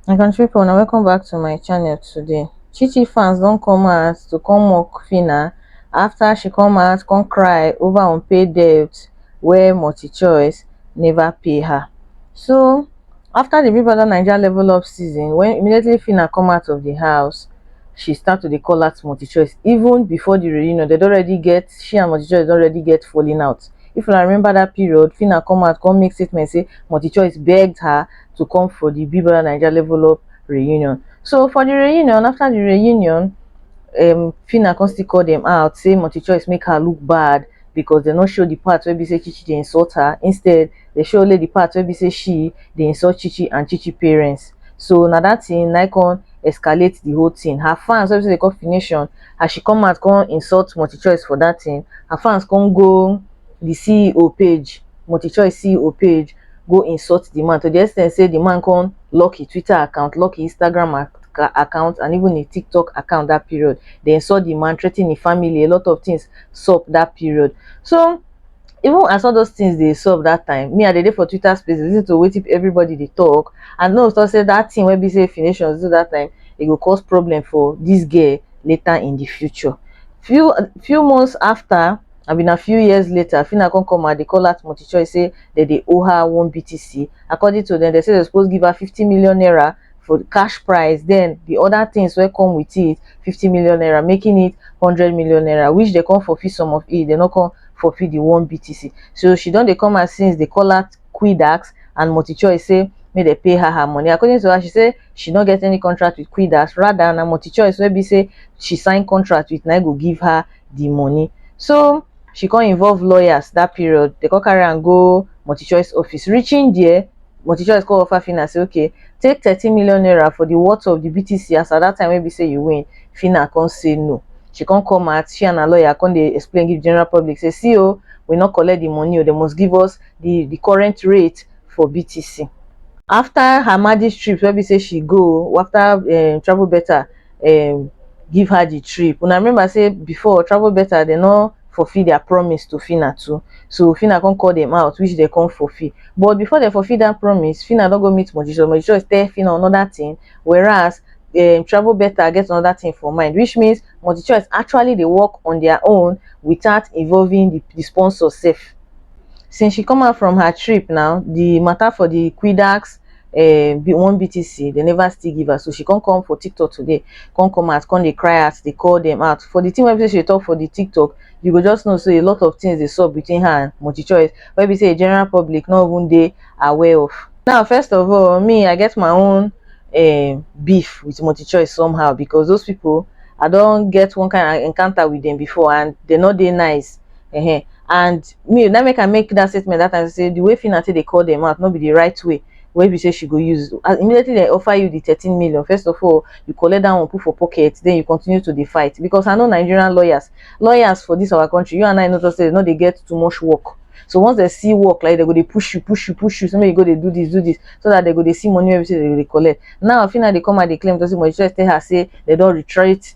my country people now welcome back to my channel today chi chi fans don't come out to come mock fina after she come out come cry over unpaid debt where multi-choice never pay her so after the Big Brother Naija level up season, when immediately Fina come out of the house, she start to dey call out multi-choice. Even before the reunion, they already get, she and multi-choice already get falling out. If una remember that period, Fina come out, come make statement say multi-choice begged her to come for the Big Brother Naija level up reunion. So for the reunion, after the reunion, um, Fina come still call them out, say multi-choice make her look bad because they no show the part where be say Chichi dey insult her. Instead, dey show only the part wey be say she dey insult Chichi and Chichi parents. So na that thing na come escalate the whole thing. Her fans wey be say they call Fination, as she come out come insult Multichoice for that thing, her fans come go the CEO page, Multichoice CEO page, go insult the man to the extent say the man come lock his Twitter account, lock his Instagram account and even his TikTok account that period. They insult the man, threaten his family, a lot of things sup that period. So even as all those things dey sup that time, me I dey dey for Twitter space dey listen to wetin everybody dey talk and me also say that thing wey be say Phyne Nations do that time e go cause problem for this girl later in the future. Few few months after abi na few years later Phyna come come out dey call out Multichoice say dem dey owe her one BTC according to dem, dem say dem suppose give her fifty million naira for cash price then the other things wey come with it 50 million naira making it 100 million naira which they come fulfill some of it they no come fulfill the one btc so she don dey come out since dey call her quidax and multichoice say make they pay her her money according to her she say she no get any contract with quidax rather na multichoice wey be say she sign contract with na im go give her the money so she come involve lawyers that period they come carry am go multichoice office reaching there multichoice come offer phyna say okay take thirteen million naira for the worth of the btc as at that time wey be say you win phyna come say no she come come out she and her lawyer come dey explain give general public say see o we no collect the money o they must give us the the current rate for btc after her magic trip wey be say she go after um travel better um give her the trip una remember say before travel better dem no fulfill their promise to phyna too so phyna come call them out which they come fulfill but before they fulfill that promise phyna don go meet mojisoy mojisoy tell phyna another thing whereas um, travel better get another thing for mind which means multi-choice actually they work on their own without involving the, the sponsor safe since she come out from her trip now the matter for the quidax um be one BTC dem never still give her so she come come for TikTok today come come out come dey cry out dey call them out for the thing wey be say she talk for the TikTok you go just know say a lot of things dey sup between her and multi choice wey be say the general public no even dey aware of now first of all me I get my own um beef with multi choice somehow because those people I don get one kind encounter with them before and they no dey nice uh-huh. and me that make i make that statement that time say the way fina take dey call them out no be the right way wey be say she go use as immediately they offer you the thirteen million first of all you collect that one put for pocket then you continue to dey fight because i know nigerian lawyers lawyers for this our country you and i know just say they no dey get too much work so once they see work like they go dey push you push you push you so make you go dey do this do this so that they go dey see money wey be say they go dey collect now fina dey come out dey claim to say mojisoy tell her say they don retreat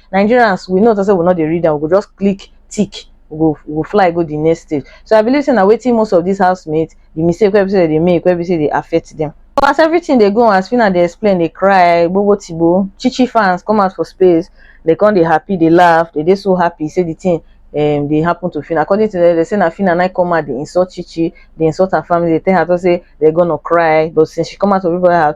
Nigerians we know say we no dey read am, we go just click tick, we go we go fly go the next stage. So I believe say na wetin most of these housemates, the mistake wey be say dem dey make, wey be say dey affect them. But as everything dey go on, as Phyna dey explain, dey cry, gbobo tigbo, Chichi fans come out for space, dey come dey happy, dey laugh, dey dey so happy say the thing um dey happen to Phyna. According to them, dem say na Phyna na come out dey insult Chichi, dey insult her family, dey tell her talk say dem gonna cry, but since she come out of everybody house,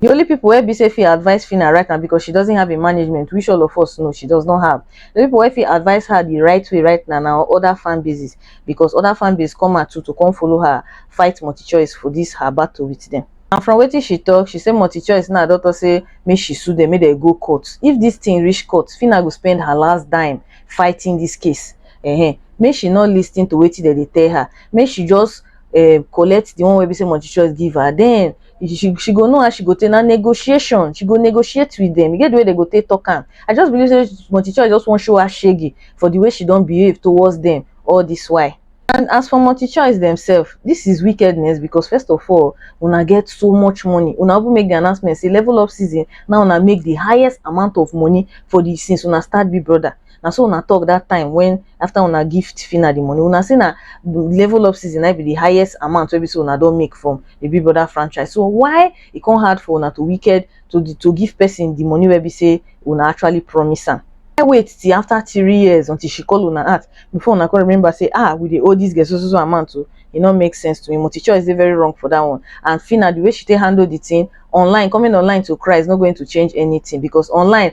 The only people where be say fit advise Fina right now because she doesn't have a management, which all of us know she does not have. The people where fit advise her the right way right now now other fan bases because other fan bases come out to to come follow her fight multi choice for this her battle with them. And from what she talk, she say multi choice now daughter say make she sue them, make they go court. If this thing reach court, Fina go spend her last dime fighting this case. Uh -huh. Make she not listening to what they tell her. Make she just um collect the one wey be say multi choice give her then she she go know how she go take na negotiation she go negotiate with them e get the way they go take talk am i just believe say multi choice just wan show her shege for the way she don behave towards them all this while and as for multi choice themselves this is wickedness because first of all una get so much money una even make the announcement say level up season now una make the highest amount of money for the since una start big brother na so una talk that time when after una give Tifina the money una say na level up season na be the highest amount wey be say una don make from the Big Brother franchise so why e come hard for una to wicked to the, to give person the money wey be say una actually promise am I wait till after three years until she call una out before una come remember say ah we dey owe this girl so so so amount o e no make sense to me multi choice dey very wrong for that one and Fina the way she take handle the thing online coming online to cry is not going to change anything because online